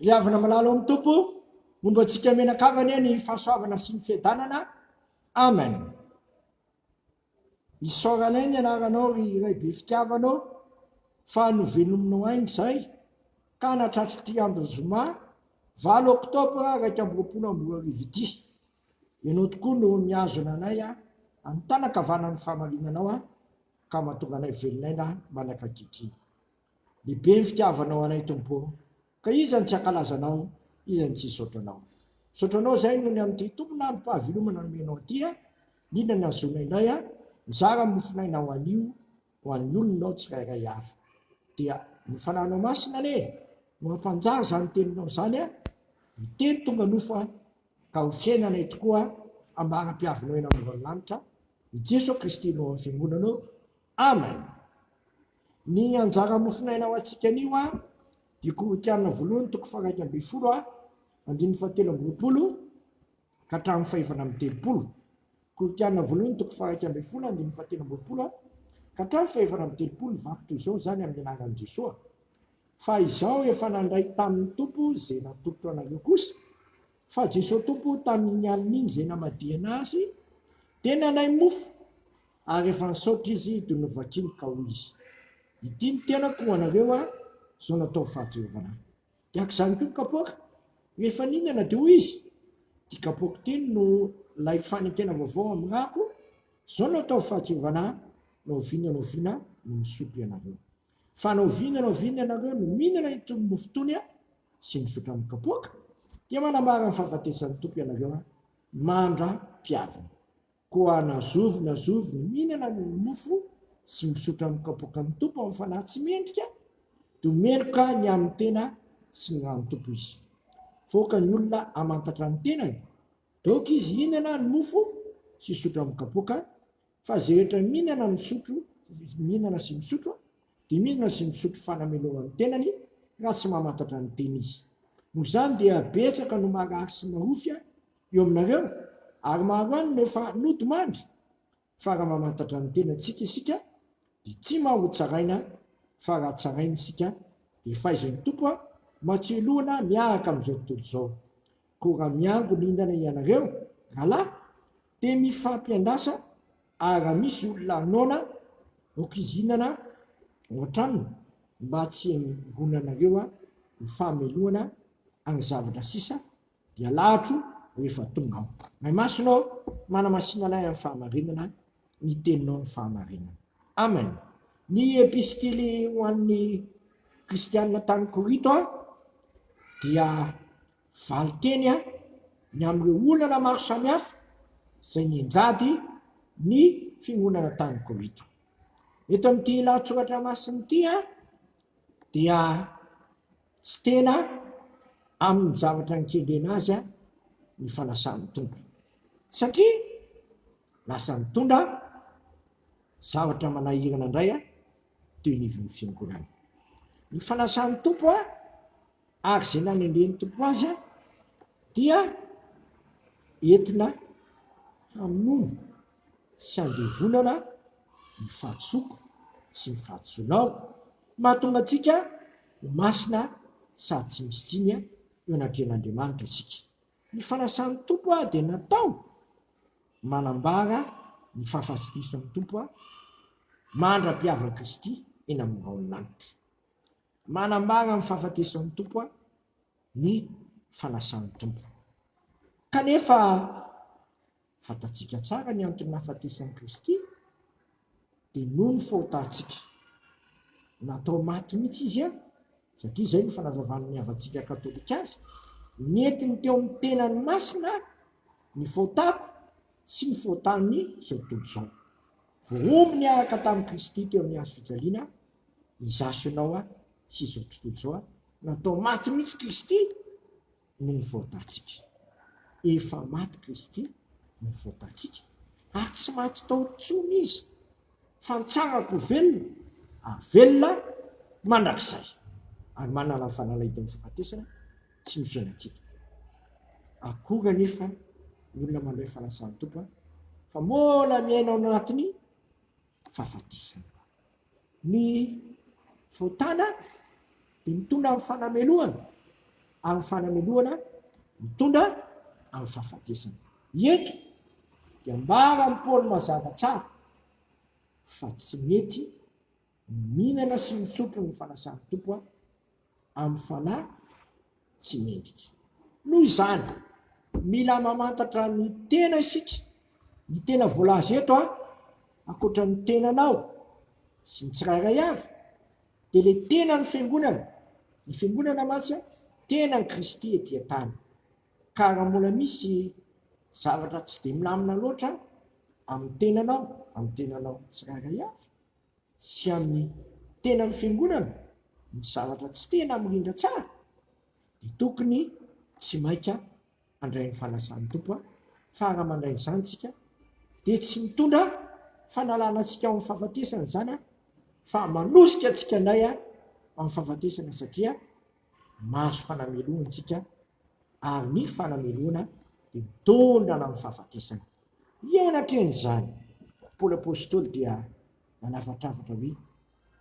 Ry havana malala ao amin'ny Tompo, momba antsika menakavy anie ny fahasoavana sy ny fiadanana. Amen. I Soralin ny anaranao ry iray be fitiavana ô, fa novenominao aina izay, ka natratr'ity andro zoma valo oktobra iraika amby roapolo amby roa arivo ity. Ianao tokoa no mihazona anay amin'ny tanan-kavanan'ny fahamarinanao, ka mahatonga anay velon'aina manakakikiny. Lehibe ny fitiavanao anay Tompo ô, ka iza no tsy hankalaza Anao, iza no tsy hisaotra Anao. Misaotra Anao izahay noho ny amin'ity tompon'androm-pahavelomana nomenao ity, indrindra ny hazoana indray mizara ny mofon'ainao anio ho an'ny olonao tsirairay avy. Dia ny Fanahinao Masina anie no hampanjary izany Teninao izany, ny Teny tonga nofo, ka ho fiainanay tokoa ambara-piavinao eny ambonin'ny lanitra, i Jesoa Kristy no ao amin'ny Fiangonanao. Amen. Ny anjara mofonaina ho antsika anio a dia Korotiana voalohany toko faha-iraika ambin'ny folo a andininy fahatelo amby roapolo ka hatramin'ny fahefana amby telopolo Korotiana voalohany toko faha-iraika ambin'ny folo andininy fahatelo amby roapolo a ka hatramin'ny fahefana amby telopolo ny vaky toy izao izany amin'ny anaran'i Jesoa fa izao efa nandray tamin'ny Tompo izay natolotro anareo kosa fa Jesoa Tompo tamin'iny alina iny izay namadihana azy dia nanay mofo Ary efa nisaotra izy dia novakiny ka hoy izy, Ity ny tenako ho anareo a, izao nataovy fa Jehovah anà. Dia araka izany koa ny kapoaka. Rehefa nihinana dia hoy izy, Ity kapoaka ity no ilay fanekena vaovao amin'ny rako, izao no ataovy fa Jehovah anà, na oviana na oviana no misotro ianareo. Fa na oviana na oviana ianareo no mihinana itony mofo itony sy misotro amin'ny kapoaka, dia manambara ny fahafatesan'ny Tompo ianareo mandra-pihaviny. Koa na zovy na zovy no mihinana ny mofo sy misotra amin'ny kapoakan'ny Tompo amin'ny fanahy tsy mendrika, dia ho meloka ny amin'ny tena sy ny ràn'ny Tompo izy. Voaka ny olona hamantatra ny tenany, dia aoka izy hihinana ny mofo sy hisotra amin'ny kapoaka, fa izay rehetra mihinana ny misotro, mihinana sy misotro, dia mihinana sy misotro fanamelohan'ny tenany, raha tsy mamantatra ny tena izy. Noho izany dia betsaka no marary sy marofy eo aminareo ary maro any no efa nody mandry fa raha mamantatra ny tenantsika isika dia tsy mba ho tsaraina fa raha tsaraina isika dia faiza ny Tompo an matsiloana miaraka amin'izao tontolo izao koa raha miangonindana ianareo rahalahy dia mifampiandasa ary raha misy olona noana okizinana ao an-tranony mba tsy hiangonanareo ho famelohana any zavatra sisa dia lahatro rehefa tonga aho. May Masina ô, manamasina anay amin'ny fahamarinana ny Teninao ny fahamarinana. Amen. Ny epistily ho an'ny Kristianina tany Korinto dia valin-teny ny amin'ireo olana maro samihafa izay nenjady ny fiangonana tany Korinto. Eto amin'ity lahatsoratra masina ity dia Tsy tena amin'ny zavatra nikendrena azy ny fanasan'ny Tompo, satria lasa nitondra zavatra manahirana indray teo anivon'ny fiangonana. Ny fanasan'ny Tompo ary izay nanendren'ny Tompo azy dia entina hamono sy handevonana ny fahadisoako sy ny fahadisoanao, mahatonga antsika ho masina sady tsy misy tsiny eo anatrehan'Andriamanitra isika. Ny fanasan'ny Tompo dia natao manambara ny fahafatesan'ny Tompo mandra-pihavan'i Kristy eny amin'ny rahon'ny lanitra. Manambara ny fahafatesan'ny Tompo ny fanasan'ny Tompo. Kanefa Fantatsika tsara ny antony nahafatesan'i Kristy, dia noho ny fahotantsika. Natao maty mihitsy Izy an, satria izay no fanazavan'ny havantsika katolika azy, nentiny teo amin'ny tenany masina ny fahotako sy ny fahotan'ny izao tontolo izao. Voaomby niaraka tamin'i Kristy teo amin'ny hazo fijaliana izaho sy ianao sy izao tontolo izao. Natao maty mihitsy Kristy no ny voatantsika. Efa maty Kristy no voatantsika, ary tsy maty tao intsony Izy, fa nitsangako ho velona, ary velona mandrakizay, ary manana ny fanalahidin'ny fahafatesana sy ny fiainan-tsita. Akory anefa ny olona mandray fanasan'ny Tompo, fa mbola miaina ao anatin'ny fahafatesana. Ny fahotana dia mitondra amin'ny fanamelohana, ary ny fanamelohana mitondra amin'ny fahafatesana. Eto dia ambaran'i Paoly mazava tsara fa tsy mety ny mihinana sy misotro ny fanasan'ny Tompo amin'ny fanahy tsy mendrika. Noho izany, mila mamantatra ny tena isika, ny tena voalaza eto a, ankoatra ny tenanao sy ny tsirairay avy, dia ilay tenan'ny Fiangonana, ny Fiangonana mantsy a, tenan'i Kristy ety an-tany. Ka raha mbola misy zavatra tsy dia milamina loatra amin'ny tenanao, amin'ny tenanao tsirairay avy, sy amin'ny tenan'ny fiangonana ny zavatra tsy tena mirindra tsara dia tokony tsy maika handray ny fanasan'ny Tompo aho fa raha mandray izany tsika dia tsy mitondra fanalana antsika ao amin'ny fahafatesana izany aho fa manosika antsika indray amin'ny fahafatesana satria mahazo fanamelohana antsika ary ny fanamelohana dia mitondra anao amin'ny fahafatesana. Eo anatrehan'izany, Paoly Apostoly dia nanafatrafatra hoe,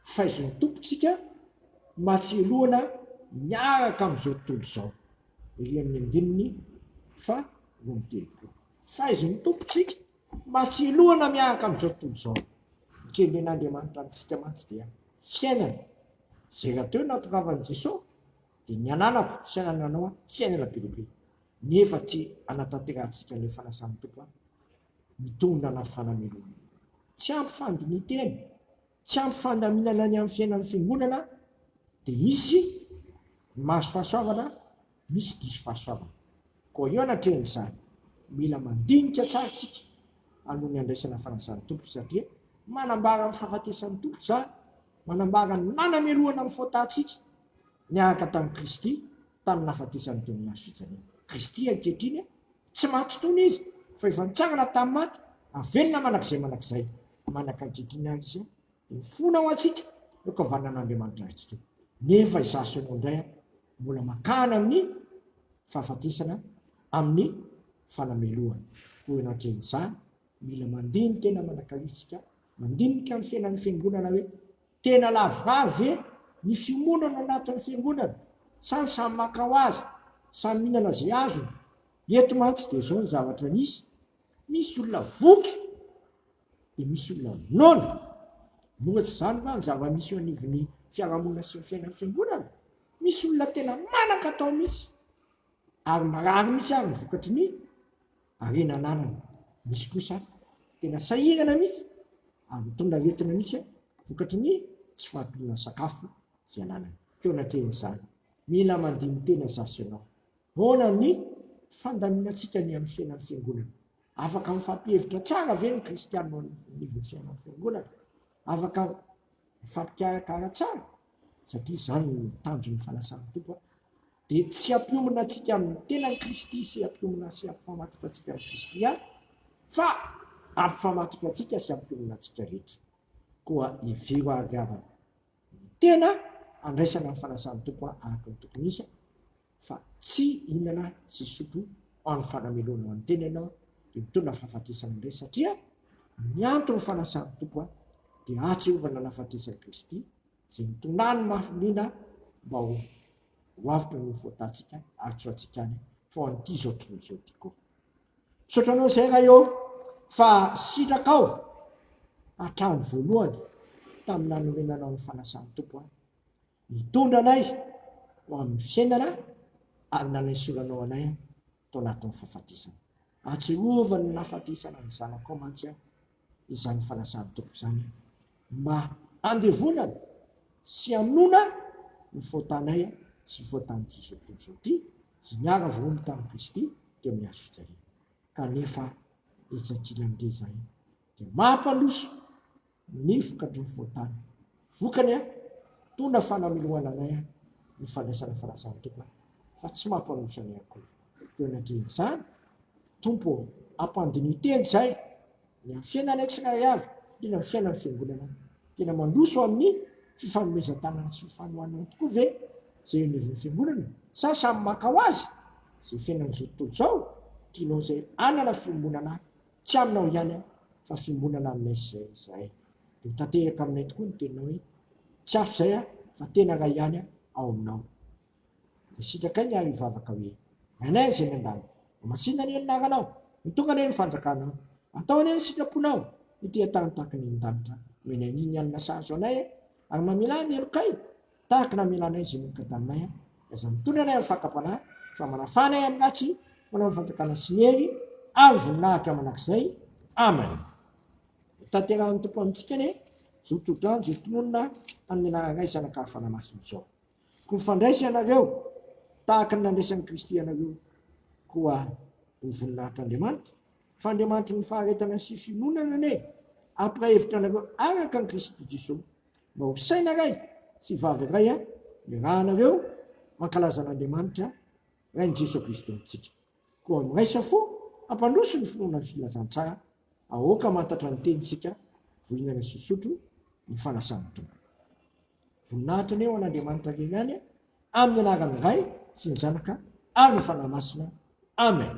Faizo ny Tompontsika matsiloana miaraka amin'izao tontolo izao. Ery amin'ny andininy faha roa amby telopolo. Faizo ny Tompontsika matsiloana miaraka amin'izao tontolo izao. Ny kendren'Andriamanitra amintsika mantsy dia fiainana. Izay rahateo natongavan'i Jesoa. Dia ny ananako sy anananao an, tsy haingana be dia be, nefa tsy hanatanterantsika ilay fanasan'ny Tompo an, mitondra ana fanamelohana. Tsy ampy fandinitena, tsy ampy fandaminana ny amin'ny fiainan'ny Fiangonana an, dia misy ny mahazo fahasoavana an, misy diso fahasoavana. Koa eo anatrehan'izany, mila mandinika tsara isika aloha ny handraisana fanasan'ny Tompo, satria manambara ny fahafatesan'ny Tompo izany, manambara ny nanamelohana ny fôtantsika niaraka tamin'i Kristy tamin'ny nahafatesan'i Toniasy fijaliana. Kristy ankehitriny tsy maty tony Izy fa efa nitsangana tamin'ny maty, havelona mandrakizay mandrakizay. Manaka ankehitriny ary Izy dia mifona ho antsika eo an-kavaninan'Andriamanitra Ray tsy tony. Nefa izaho sy ianao indray ary mbola makany amin'ny fahafatesana amin'ny fanamelohana. Koa eo anatrehan'izany, mila mandinika na manakaloha isika mandinika ny fiainan'ny Fiangonana hoe Tena lavorary ve ny fiomonana anatin'ny fiangonana sa ny samy maka ho azy, samy mihinana izay azony? Eto mantsy dia izao ny zavatra nisy, misy olona voky dia misy olona noana. Moa tsy izany va ny zava-misy eo anivon'ny fiarahamonina sy ny fiainan'ny fiangonana? Misy olona tena manan-katao mihitsy, ary marary mihitsy ary ny vokatry ny. Harena anarana. Misy kosa tena sahirana mihitsy ary mitondra aretina mihitsy vokatry ny tsy fahampiana sakafo izay ananany. Teo anatrehan'izany, mila mandini-tena izaho sy ianao. Ahoana ny fandaminantsika ny amin'ny fiainan'ny Fiangonana? Afaka mifampihevitra tsara ve ny Kristianina eo anivon'ny fiainan'ny Fiangonana? Afaka mifampikarakara tsara? Satria izany no tanjon'ny fanasan'ny Tompo Dia tsy hampiomina antsika amin'ny tenan'i Kristy sy hampiomina sy hampifamatotra antsika amin'i Kristy ihany, fa hampifamatotra antsika sy hampiomina antsika rehetra. Koa hevero hahaviavana ny tena handraisana ny fanasan'ny Tompo araka ny tokony hisy, fa tsy hihinana sy hisotro ho an'ny fanamelohana ho an'ny tena ianao, dia mitondra fahafatesana indray, satria ny anton'ny fanasan'ny Tompo dia atsy Iehovah nanafatesan'i Kristy, Tsy mitonany mafy liana mba ho ho avotra ny fotatsika ary tsy ho antsika any fa ho an'ity zao tontolo zao ty ko. Misaotra anao zay ray ô fa sitrakao hatramin'ny voalohany tamin'ny nanorenanao ny fanasan'ny Tompo ahy, nitondra anay ho amin'ny fiainana ary nanaisoranao anay aho. tao anatin'ny fahafatesana. Ary Jehovah no nahafatesana ny Zanakao mantsy aho, izany fanasan-tompo izany mba handevonana sy hanoana ny faotanay sy faotan'izao tontolo izao ity izay niara-voaomby tamin'i Kristy teo amin'ny hazo fijaliana. Kanefa etsy an-kilan'ilay izahay dia mampandroso. ny vokadrony voatany. Vokany an! Tona fa namelohana anay an! ny fandraisana farazan'ny Tompo an! fa tsy mampanosa anay akory. Koa anatrehan' izany, Tompo ô, ampandinio teny izay, ny amin'ny fiainanay tsirairay avy, indrindra ny fiainan'ny Fiangonana. Tena mandroso amin'ny fifanomezan-tanana sy fifanohanana tokoa ve izay eo anivon'ny Fiangonana, sa samy maka ho azy izay fiainan'izao tontolo izao? Tianao izay hanana fiombonana Tsy aminao ihany aho fa fiombonana aminay izay izahay. Dia ho tanteraka aminay tokoa ny teninao hoe, Tsy hafa izay aho fa tena iray ihany aho ao aminao. Dia sitrakay ny ary hivavaka hoe, Rainay izay any an-danitra, Homasinina anie ny anaranao, Hotonga anie ny fanjakanao, Atao anie ny sitraponao, Ity an-tany tahaka ny any an-danitra, Omenay ny ny alina sahazo anay, Ary mamelà ny helokay, Tahaka na mila anay izay mioka taminay aho, dia aza mitondra anay amin'ny fakam-panahy, fa manafaha anay amin'ny ratsy, manao ny fanjakana sy ny hery ary voninahitra mandrakizay. Amen. Hotanterahin'ny Tompo amintsika anie izao tsodrano izay tononina amin'ny anaranay Zanaka Fanamasina izao. Koa mifandraisa ianareo tahaka ny nandraisan'i Kristy ianareo koa ho voninahitra Andriamanitra, fa Andriamanitry ny faharetana sy fiononana anie hampirahevitra anareo araka an'i Kristy Jesoa. Mba ho saina ray sy vavy ray a iarahanareo mankalaza an'Andriamanitra Rain'i Jesoa Kristy Tompontsika. Koa miraisa fo hampandroso ny finoana ny filazantsara aoka mantatra ny teny isika voingana sy hisotro ny fanasan'ny Tompo. Voninahitra anie ho an'Andriamanitra irery ihany amin'ny anaran'ny Ray sy ny Zanaka ary ny Fanahy Masina. Amen.